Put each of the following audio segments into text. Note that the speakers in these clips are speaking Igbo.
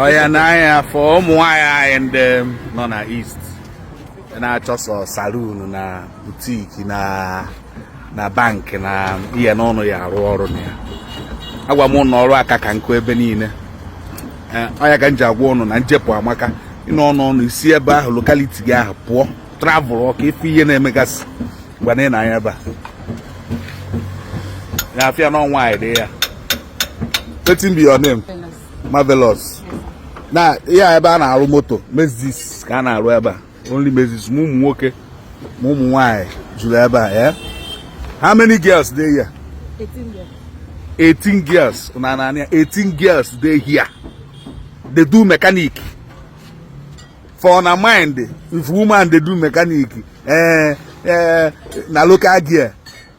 ọya nee anya fụ ụmụ nwanyị anyị ndị nọ na east na-achọ sọ saloon na boutique na na bank na ihe ụnụ ya-arụ ọrụ na ya agwa m ụnụ ọrụ aka ka nkụ ebe niile ọ ya ka m ji agwa ụnụ na njepụ amaka ịnọ ọnụ ọnụ i si ebe ahụ locality gị ahụ pụọ travelọ ka ị fụ ihe na-emegasị ngwanụ nee anya ebe a ya afịa na ọ nwanyị dị ya wetin be your name Marvelous na ya ebe a na-arụ moto mezis ka a na-arụ ebe a only mezis ma ụmụ nwoke ma ụmụ nwanyị juru ebe a ya how many girls dey here 18 girls na na 18 girls dey here dey do mechanic for na mind if woman dey do mechanic eh, eh, na local gear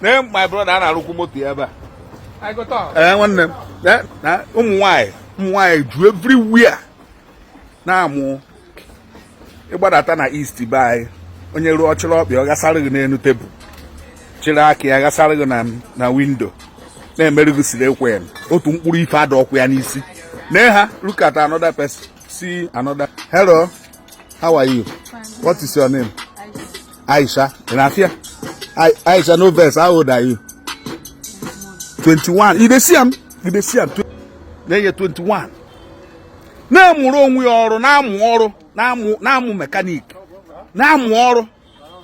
Name my brother a na-arụkwu moto ya ebe a. I go talk. Ee eh, nwanne m eh, na ụmụ nwaanyị ụmụ nwaanyị ju everywhere na-amụ ị gbadata na east be anyị onye ruo ọ chịrị ọkpa ya gasara gị n'elu tebụl chịrị aka ya gasara gị na windo na-emere gị siri ekwe ya otu mkpụrụ ife adịrọkwa ya n'isi na ha look at another person see another hello how are you what is your name Aisha, in Afia. I, Aisha, no vex. How old are you? 21. You dey see am? You dey see am? Na ye 21. Na-amụrụ onwe ya ọrụ, na-amụ ọrụ, na-amụ mechanic, na-amụ ọrụ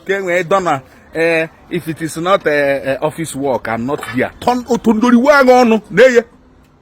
ka e nwee dọna ee eh, if it is not eh, eh, office work I'm not there. Turn otu ndori wee ọnụ na-eye